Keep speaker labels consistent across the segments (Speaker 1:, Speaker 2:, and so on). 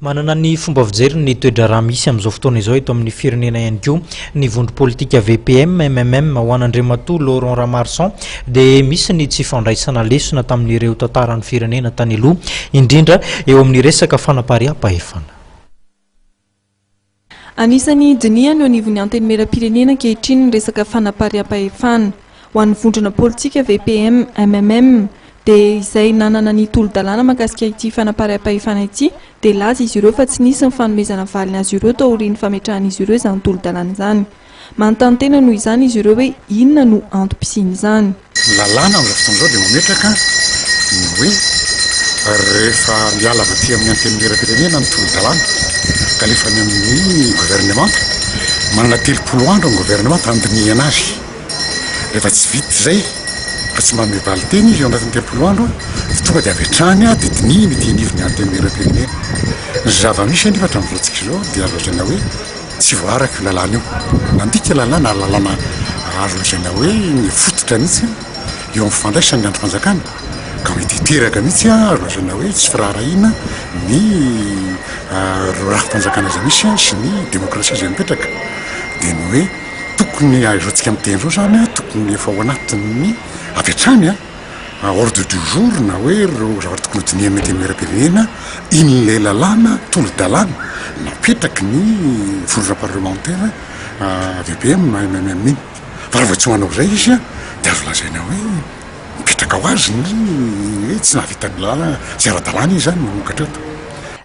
Speaker 1: Manana ny fomba fijeriny ny toe-draharaha misy amin'izao fotoana izao eto amin'ny firenena ihany koa ny vondro politika VPM, MMM ho an'Andriamatoa Laurent Ramarson dia misy ny tsy fandraisana lesona tamin'ireo tantaran'ny firenena tany aloha, indrindra eo amin'ny resaka fanapariaham-pahefana.
Speaker 2: Anisan'ny dinihany eo anivon'ny Antenimierampirenena ankehitriny ny resaka fanapariaham-pahefana. Ho an'ny vondrona politika VPM, MMM dia izay nanana ny tolo-dalàna mahakasika ity fanapariaham-pahefana ity dia laza izy ireo fa tsy nisy ny fanomezana valiny azy ireo taorian'ny fametrahan'izy ireo izany tolo-dalàna izany. Manontany tena noho izany izy ireo hoe inona no antom-pisian'izany. Ny lalàna amin'izao fotoana
Speaker 3: izao dia mametraka ny hoe rehefa miala avy aty amin'ny Antenimierampirenena ny tolo-dalàna ka alefa any amin'ny governemanta, manana telopolo andro ny governemanta handinihana azy. Rehefa tsy vita izay ka tsy manome valinteny izy eo anatin'ny telopolo andro dia tonga dia avy hatrany dia dinihina ety anivon'ny Antenimierampirenena. Ny zava-misy anefa hatramin'izao antsika izao dia azo lazaina hoe. Tsy voaaraka io lalàna io. Nandika lalàna ary lalàna azo lazaina hoe nifototra mihitsy io eo amin'ny fandraisany ny andrim-panjakana ka mety hiteraka mihitsy azo lazaina hoe tsy firaharahiana ny ireo rafi-panjakana izay misy sy ny demokrasia izay mipetraka. Dia ny hoe tokony izao tsika miteny izao izany tokony efa ao anatin'ny avy hatrany. ordre du jour na hoe ireo zavatra tokony hodinihana ety amin'ny lalam-pirenena in'ilay lalàna tolo-dalàna napetraky ny vondrona parlemantera VPM na MMM iny. Fa raha vao tsy manao izay izy dia azo lazaina hoe mipetraka ho azy ny hoe tsy nahavita ny lalàna, tsy ara-dalàna izy izany manomboka hatreto.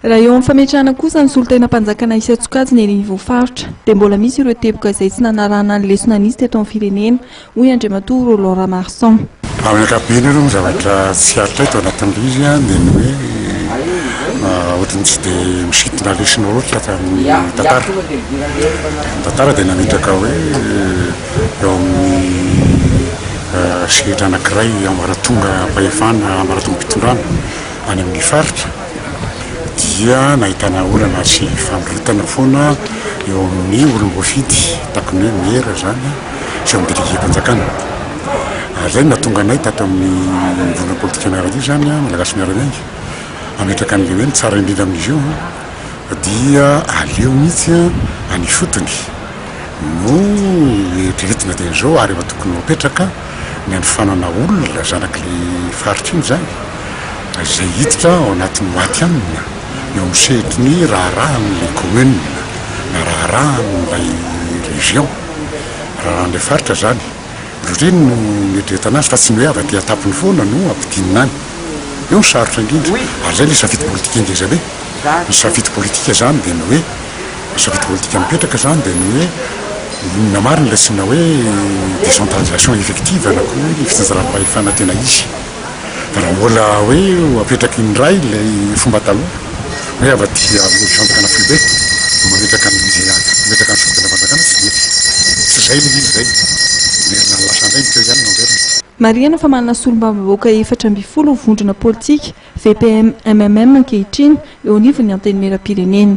Speaker 3: Raha eo amin'ny
Speaker 2: fametrahana kosa ny solontenam-panjakana isan-tsokajiny eny Ivoho Faritra dia mbola misy ireo teboka izay tsy nanarahana ny lesona nisy teto amin'ny firenena hoy Andriamatoa Roland Ramarson. Amin'ny ankapobeny
Speaker 3: aloha ny zavatra tsy hatao eto anatin'ilay izy dia ny hoe ohatran'ny tsy dia misintona lesona loatra fa ny tantara. Ny tantara dia nametraka hoe eo amin'ny sehatra anankiray ambaratongam-pahefana, ambaratongam-pitondrana any amin'ny faritra dia nahitana olana sy famoretana foana eo amin'ny olom-boafidy, takon'ny hoe mera izany. sy eo amin'ny depiotem-panjakana. Ary izay no nahatonga anay tato amin'ny vondrona politika miaramila io izany, Malagasy Miara-miainga, hametraka an'ilay hoe ny tsara indrindra amin'izy io dia aleo mihitsy any ifotony no eritreretina dieny izao ary efa tokony ho apetraka ny hanofanana olona zanak'ilay faritra iny izany, izay hiditra ao anatin'ny maty hanina eo amin'ny sehatry ny raharahan'ilay commune na raharahan'ilay région. Raha ilay faritra izany, ry reny no niadretana azy fa tsy ny hoe avy aty an-tampony foana no ampidinina any. Eo ny sarotra indrindra. Ary izay ilay safidy politika ngeza be. Ny safidy politika izany dia ny hoe, ny safidy politika mipetraka izany dia ny hoe inona marina ilay tsy na hoe décentralisation effective na koa hoe ny fitsinjaram-pahefana tena izy. raha mbola hoe ho apetraky indray ilay fomba taloha hoe avy aty amin'ny Fanjakana foibe no mametraka ny izay hametraka ny Sokajindrapanjakana tsy mety, tsy izay ilay izy izay, mamerina ny lasa indray ny teo ihany no averina.
Speaker 2: Marihana fa manana solombavambahoaka efatra ambin'ny folo vondrona politika, VPM-MMM ankehitriny, eo anivon'ny Antenimierampirenena.